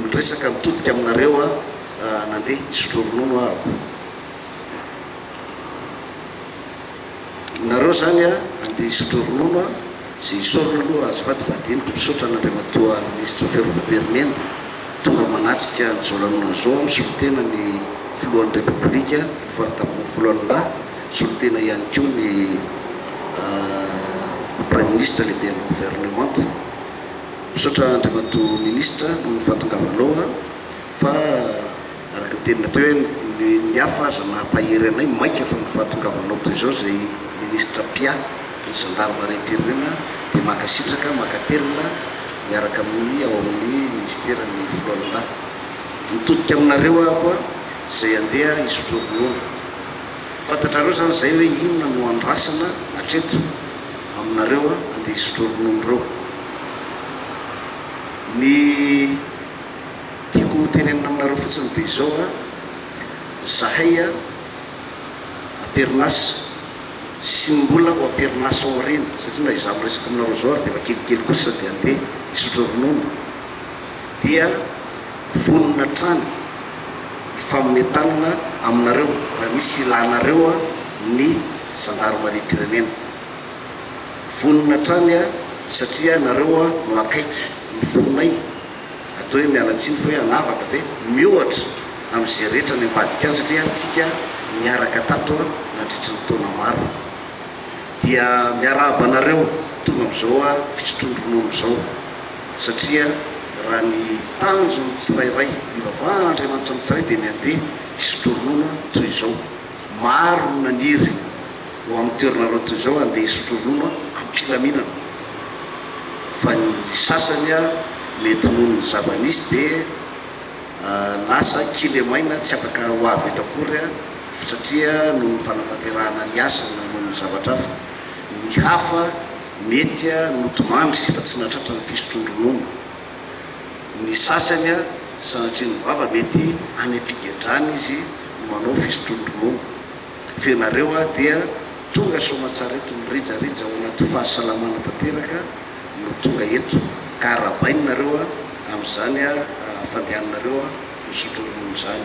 Miresaka mitodika aminareo aho, nandeha hisotro ronono aho. Nareo zany a, andeha hisotro ronono a, ze hisorona aloha azafady vadiniko, misaotra an'Andriamatoa Minisitra Fiarovam-pirenena, tonga manatrika an'i Zao Lanonana Zao aho, misolo tena ny Filohan'ny Repoblika, Filoha Faritra Ambony Folo An'Ilahy, misolo tena ihany koa ny Praiminisitra, Lehiben'ny Governemanta. Misaotra Andriamatoa Ministra noho ny fahatongavanao an! Fa araka ny teninao teo hoe ny hafa aza mampahery anay, maika fa ny fahatongavanao toy izao izay Ministra Pia ny Zandarimariam-pirenena dia mankasitraka mankatelina miaraka amin'ny ao amin'ny Minisiteran'ny Foloalindahy. Mitodika aminareo aho koa izay andeha hisotro ronono. Fantatrareo izany izay hoe inona no andrasana hatreto. aminareo a, andeha hisotro ronono ireo. Ny tiako ho tenenina aminareo fotsiny dia izao a, zahay a amperinasa sy ny mbola ho amperinasa ao aoriana, satria na izaho miresaka aminareo izao ary dia efa kelikely kosa dia andeha hisotro ronono, dia vonona hatrany hifanome tanana aminareo raha misy ilanareo a ny zandarimariam-pirenena. Vonona hatrany aho satria ianareo no akaiky ny fonay, atao hoe miala tsiny fa hoe hanavaka ve? Miohatra amin'izay rehetra any ambadika any satria antsika niaraka tato nandritry ny taona maro. Dia miarahaba anareo tonga amin'izao fisotroan-dronono izao satria raha ny tanjon'ny tsirairay, ivavahan'Andriamanitra amin'ny tsirairay dia ny handeha hisotro ronono toy izao. Maro no naniry ho amin'ny toeranareo toy izao handeha hisotro ronono am-pilaminana fa ny sasany mety noho ny zava-nisy dia lasa kilemaina tsy afaka ho avy eto akory satria noho ny fanatanterahana ny asa na noho ny zavatra hafa. Ny hafa mety notomandry fa tsy nahatratra ny fisotroan-dronono. Ny sasany a sanatria ny vava mety any ampigedrana izy no manao fisotroan-dronono. Fa ianareo a dia tonga soamatsara eto mirijarija ao anaty fahasalamana tanteraka no tonga eto ka arabaina nareo a amin'izany a fandehananareo a misotro ronono izany.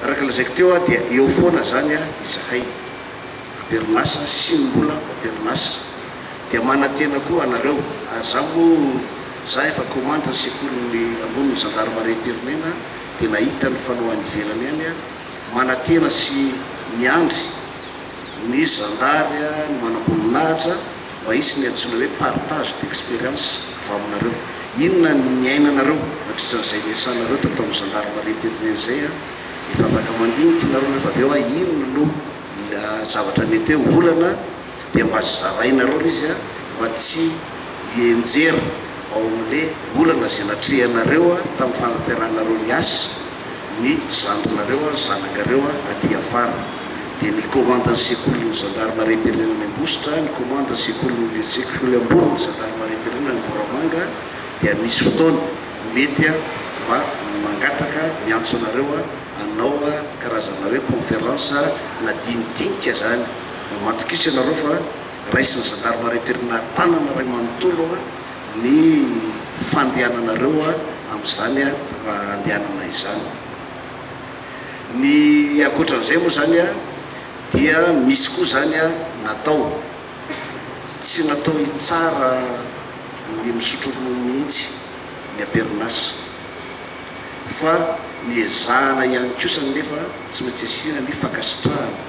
Araka lazaiko teo a dia eo foana izany a izahay. Amperinasa, sisiny mbola amperinasa. Dia manantena koa anareo ary za moa za efa commande ny sekoliny ambony ny gendarmerie am-pirenena dia nahita ny fanao any ivelany any a, manantena sy miandry ny zandary a ny manamboninahitra mba hisy ny antsoina hoe partage d'experience avy aminareo. Inona ny niainanareo nandritra an'izay niasanareo tato amin'ny gendarmerie am-pirenena izay a, efa afaka mandinika ianareo rehefa avy eo a, inona no zavatra mety hoe olana dia mba azo zarainareo le izy mba tsy hienjera ao amin'le olana izay natrehanareo tamin'ny fanateranareo ny asa ny zandrinareo ary zanakareo aty afara. Dia ny komandin'ny sekolin'ny zandarimariam-pirenena any Ambositra, ny komandin'ny sekolin'ny sekoly ambonin'ny zandarimariam-pirenena any Moramanga dia misy fotoana mety mba mangataka miantso anareo hanao karazana hoe conférence na dinidinika izany. Mba matokisa ianareo fa raisin'ny zandarmaria am-pirenana tanana iray manontolo ny fandehananareo amin'izany andehanana izany. Ny ankoatran'izay moa izany dia misy koa izany natao, tsy natao hitsara ny misotro ronono mihitsy ny amperin'asa fa ny ezahana ihany kosa anefa tsy maintsy asiana ny fankasitrahana.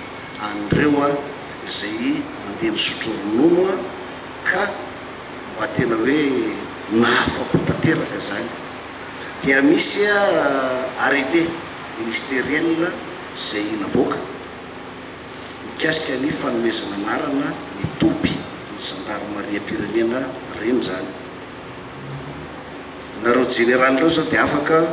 anreo a zay mandeha misotro ronono a ka mba tena hoe nahafapo tanteraka zany dia misy a arrete ministeriel zay navoaka mikasika ny fanomezana anarana ny toby ny zandarimariam-pirenena reny zany nareo jeneraly reo zao dia afaka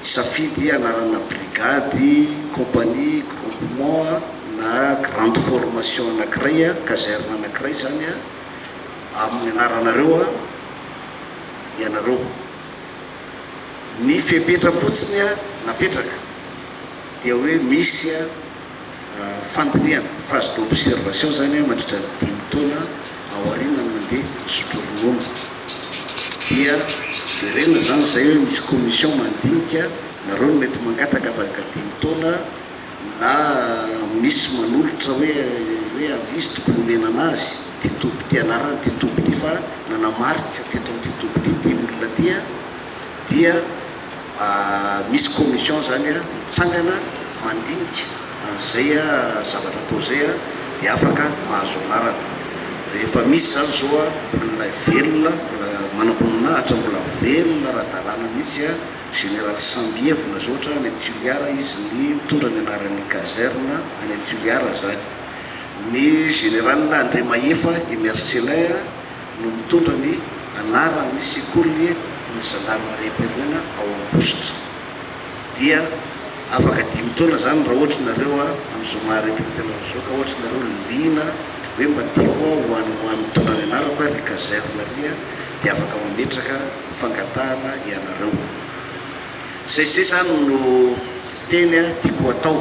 Hisafidy anarana brigady, compagnie, groupement na grande formation anankiray, caserne anankiray izany amin'ny anaranareo ianareo. Ny fepetra fotsiny napetraka dia hoe misy fandinihana, phase d'observation, izany hoe mandritra ny dimy taona aorianan'ny nandeha misotro ronono dia jerena izany izay hoe misy commission mandinika nareo no mety mangataka afaka dimy taona na misy manolotra hoe hoe ary izy tokony homena anazy ity toby ity anarana ity toby ity fa nanamarika teto amin'ity toby ity dimy olona ity dia misy commission zany mitsangana mandinika an'izay zavatra atao izay dia afaka mahazo anarana. Rehefa misy izany zao olona velona, mbola manamboninahitra, mbola velona ara-dalàna mihitsy, Général Sambievina izao ohatra any Tuliara izy ny mitondra ny anaran'ny caserne any Tuliara izany. Ny Général Andriamahefa i Mercelin. no mitondra ny anaran'ny sekolin'ny zandarmariam-pirenena ao Ambositra. Dia afaka dimy taona izany raha ohatra ianareo amin'ny zoma aretina tena mivoaka ohatra ianareo liana hoe madio aho ho an'ny ho an'ny mitondra ny anarako aho ry Kazair Maria dia afaka mametraka fangatahana ianareo. Izay izay izany no teny tiako atao.